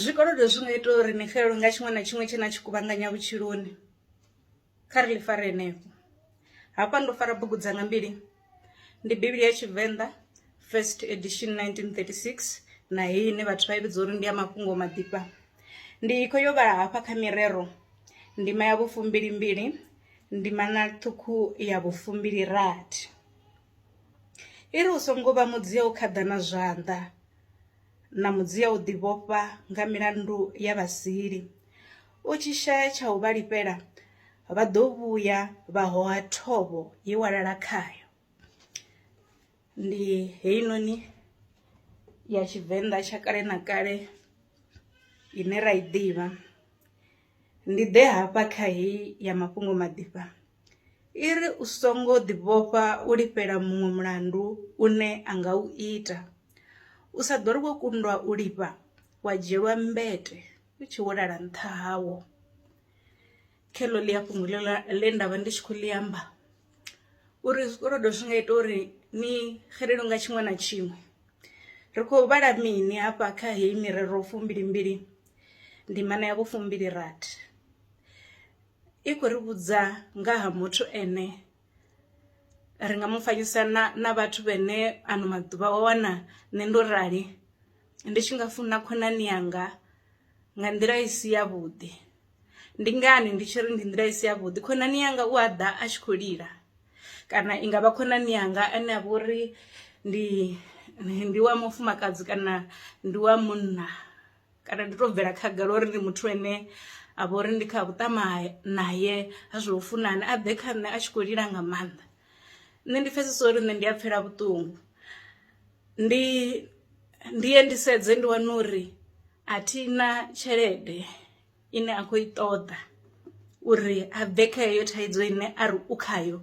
Zwikolodo zwi nga ita uri ni xelelwe nga tshiṅwe na tshiṅwe tshe na tshi kuvhanganya vhutshiloni kha ri ḽi fare henefho. Hafha ndo fara bugu dzanga mbili ndi Bivhili ya Tshivenḓa first edition 1936 na heyi ine vhathu vha i vhidza uri ndi ya mafhungo maḓifha. Ndi kho yo vhala hafha kha mirero ndima ya vhufumbili mbili ndima na ṱhukhu ya vhufumbili rathi i ri u songo vha mudzia u khaḓana zwanḓa. na mudzia u ḓivhofha nga milandu ya vhasili. U tshi shaya tsha u vha lifhela, vha ḓo vhuya vha hoha thovho ye wa lala khayo. Ndi heinoni ya Tshivenḓa tsha kale na kale ine ra i ḓivha. Ndi ḓe hafha kha heyi ya mafhungo maḓifha. I ri, U songo ḓivhofha u lifhela muṅwe mulandu une a nga u ita. U sa ḓo ri wo kundwa u lifha wa dzhielwa mmbete u tshi hulala nṱha hawo. Kheḽo ḽi a fhungo ḽe ḽe nda vha ndi tshi khou ḽi amba uri zwikolodo zwi nga ita uri ni xelelwe nga tshiṅwe na tshiṅwe. Ri khou vhala mini hafha kha heyi mirero fumbilimbili ndimana ya vhufumbili rathi? i khou ri vhudza nga ha muthu ane ri nga mu fanyisa na na vhathu vhene ano maḓuvha wa wana nṋe ndo rali ndi tshi nga funa khonani yanga nga nḓila i si ya vhuḓi. Ndi ngani ndi tshi ri ndi nḓila i si ya vhuḓi khonani yanga u a ḓa a tshi kho lila kana i ngavha khonani yanga ane a vha uri ndi ndi wa mufumakadzi kana ndi wa munna kana ndi to bvela khagala uri ndi muthu ane a vha uri ndi kha vhuṱama naye ha zwo funana a ḓe kha nṋe a tshi khou lila nga maanḓa nṋe ndi pfhesesa uri nṋe ndi a pfela vhuṱungu ndi ndi ye ndi sedze ndi wane uri a thi na tshelede ine a khou i ṱoḓa uri a bve kha heyo thaidzo ine a ri u khayo.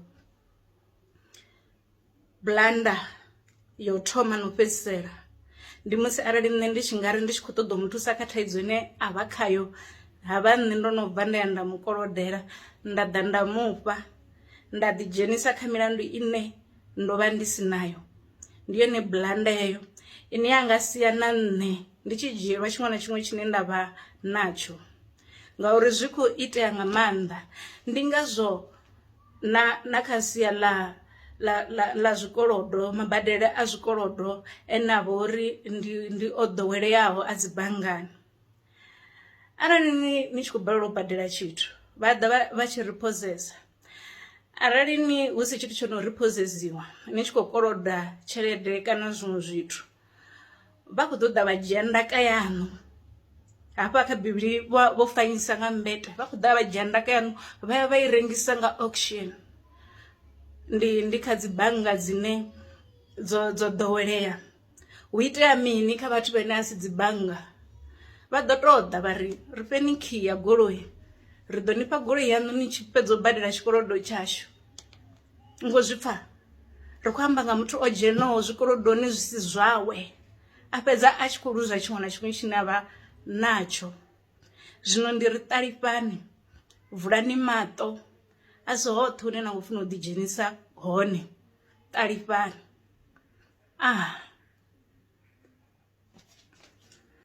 Blunder ya u thoma no fhedzisela ndi musi arali nṋe ndi tshi ngari ndi tshi kho ṱoḓa u mu thusa kha thaidzo ine a vha khayo ha vha nṋe ndo no bva nda ya nda mu kolodela nda ḓa nda mufha nda ḓi dzhenisa kha milandu ine ndo vha ndi si nayo. Ndi yone blunder heyo ine ya nga sia na nṋe ndi tshi dzhielwa tshiṅwe na tshiṅwe tshine nda vha natsho ngauri zwi kho itea nga maanḓa ndi ngazwo. na na kha sia ḽa ḽa ḽa ḽa zwikolodo mabadele a zwikolodo ane avha uri ndi ndi o ḓoweleaho a dzi banngani. Arali ni ni tshi khou balelwa u badela tshithu vha ḓa vha vha tshi ri phosesa arali ni husi tshithu tsho no ri phosedziwa ni tshi khou koloda tshelede kana zwiṅwe zwithu. vha khou ṱoḓa vha dzhia ndaka yaṋu hafha kha bivhili vho fanyisa nga mbete vha khou ḓa vha dzhia ndaka yaṋu vha ya vha i rengisa nga auction ndi ndi kha dzi bannga dzine dzo dzo ḓowelea hu itea mini kha vhathu vhane a si dzi bannga vha ḓo tou ḓa vha ri ri fheni khiyi ya goloi ri ḓo nifha goloi yaṋu ni tshi fhedza u badela tshikolodo tshashu ni kho zwi pfha ri khou amba nga muthu o dzhenaho zwikolodoni zwi si zwawe a fhedza a tshi khou luza tshiṅwe na tshiṅwe tshine avha natsho zwino ndi ri ṱalifhani vulani maṱo a si hoṱhe hune na khou funa u ḓi dzhenisa hone ṱalifhani ah